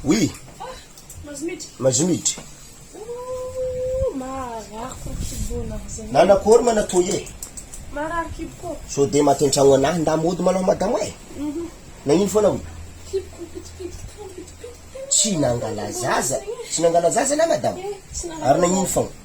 Oui. Mazomidry. Nana akory ma na toy e. Sao dia maty an-tragno anah ndà mody ma lao madamo e. Nagnino foana oui. Tsy nangala zaza, tsy nangala zaza anah madamo? Ary nagnino foagna.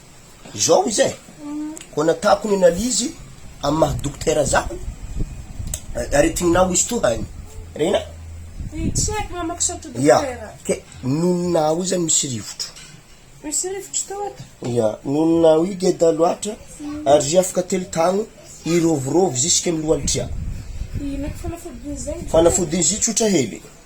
Izao izy e, koa natako ny analyse amin'ny maha dokotera zaho, aretigninao izy toa any, rena? Dia tsy haiko mamako sao toa dokotera. Ia, ke nonina aho izany misy rivotro. Misy rivotro tao ato. Ia, nonina aho geda loatra, ary zia afaka telo tagno, hirovirovy zisike amin'ny loha alitria. Inona ko fanafodiny izay dokotera? Fanafodiny zia tsotra hely.